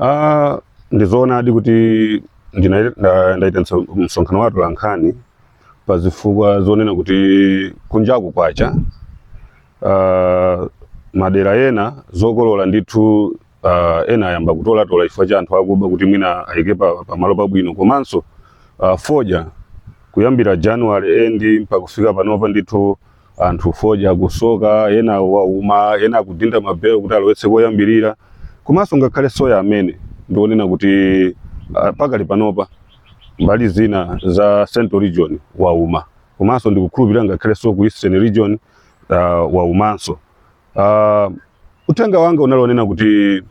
Ah, ndi zoonadi kuti ndaita msonkhano wa atolankhani pa zifukwa zonena kuti kunjaku kwacha ah, madera ena zokolola ndithu ah, ena ayamba kutolatola chifukwa cha anthu akuba kuti mwina ayike pa- pamalo pabwino komanso ah, fodya kuyambira january end mpaka kufika panopa ndithu anthu fodya akusoka ena wauma ena akudinda mabelo kuti alowetse koyambirira komanso ngakhale soya amene ndionena kuti ah, pakali panopa mbali zina za central region wauma komanso ndikukhulupirira ngakhalenso ku eastern region uh, waumanso uh, uthenga wanga unali onena kuti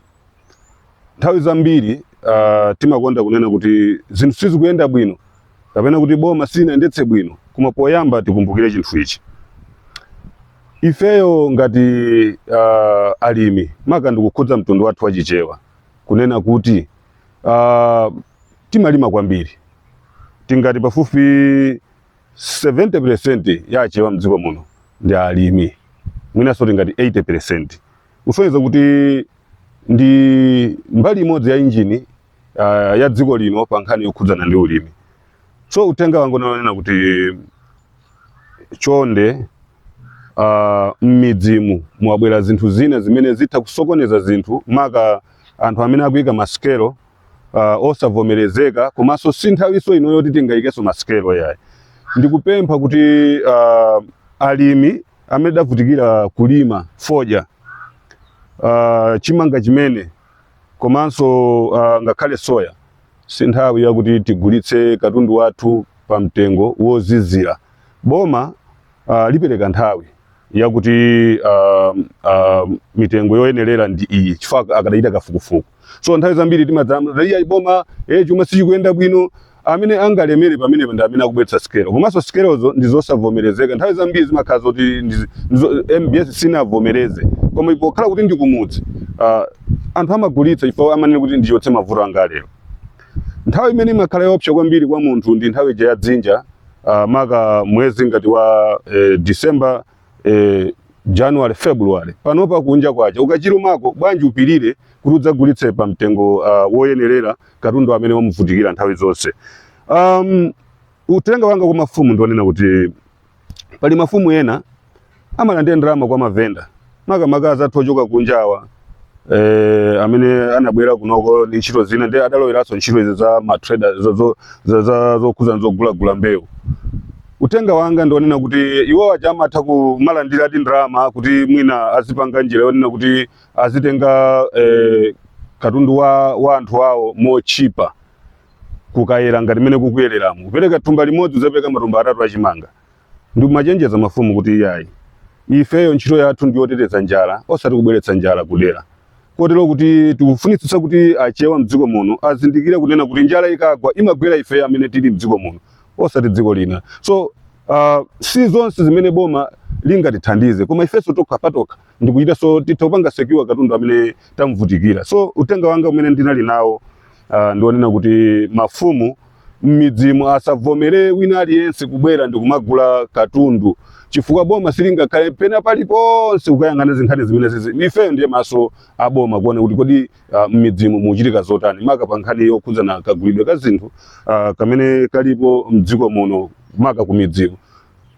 nthawi zambiri uh, timakonda kunena kuti zinthu sizikuyenda bwino kapena kuti boma silinayendetse bwino koma poyamba tikumbukire chinthu ichi ifeyo ngati uh, alimi maka ndikukhudza mtundu wathu wa chichewa kunena kuti uh, timalima kwambiri tingati pafupi 70% ya achewa mdziko muno ndi alimi mwinanso tingati 80% kusonyeza kuti ndi mbali imodzi ya injini uh, ya dziko lino pa nkhani yokhudzana ndi ulimi so uthenga wanga unali onena kuti chonde uh, mmidzimu mwabwera zinthu zina zimene zitha kusokoneza zinthu maka anthu amene akuyika masikelo uh, osavomerezeka komanso si nthawinso ino yoti tingayikenso masikelo yayi ndikupempha kuti uh, alimi amene tidavutikira kulima fodya uh, chimanga chimene komanso uh, ngakhale soya si nthawi yakuti tigulitse katundu wathu pa mtengo wozizira boma uh, lipereka nthawi yakuti uh, uh, mitengo yoyenerera ndi iyi chifukwa akadachita kafukufuku so nthawi zambiri timadzati iya boma eh chuma sichikuyenda bwino amene angalemere pamene ndi amene akubweretsa sikelo komanso sikelozo ndi zosavomerezeka nthawi zambiri zimakhala zoti ndi- ndizo- mbs sinavomereze koma pokhala kuti ndi kumudzi ah, anthu amagulitsa chifukwa amanena kuti ndichotse mavuto anga lero nthawi imene imakhala yoopsa kwambiri kwa munthu ndi nthawi ija ya dzinja ah, maka mwezi ngati wa eh, december eh, January February panopa kunja kwacha ukachilumako bwanji upirireko kuti udzagulitse pa mtengo uh, woyenerera katundu amene wamuvutikira nthawi zonse um, uthenga wanga kwa mafumu ndionena kuti pali mafumu ena amalandira ndalama kwa mavenda makamaka azathu ochoka kunjawa eh, amene anabwera kunoko ndi ntchito zina ndi adaloweranso ntchito izi za matrader zo- zo- za- za- zokhuza zogulagula mbewu uthenga wanga ndi wonena kuti iwo aja amatha kumalandira ati ndalama kuti mwina azipanga njira yoonena kuti azitenga eh, katundu wa, wa anthu awo motchipa kukayera ngati mmene kukuyereramo kupereka thumba limodzi uzapereke matumba atatu a chimanga Ndimachenjeza mafumu kuti iyayi, ifeyo ntchito yathu ndi yoteteza njala osati kubweretsa njala kudera. Kotero kuti tikufunitsitsa kuti Achewa mdziko muno azindikire kunena kuti njala ikagwa imagwera ifeyo amene tili mdziko muno osati dziko lina. So uh, si zonse zimene boma lingatithandize koma ifenso tokha patokha ndikuchita so titha kupanga secure katundu amene tamuvutikira so uthenga wanga umene ndinali nawo uh, ndi wonena kuti mafumu m'midzimu asavomere wina aliyense kubwera ndikumagula katundu chifukwa boma silingakhale pena paliponse kukayang'ana zinkhani zimenezizi ifeyo ndiye maso a boma kuona kuti kodi uh, m'midzimu muchitika zotani maka pa nkhani yokhudzana kagulidwe ka zinthu uh, kamene kalipo mdziko muno maka ku midzimu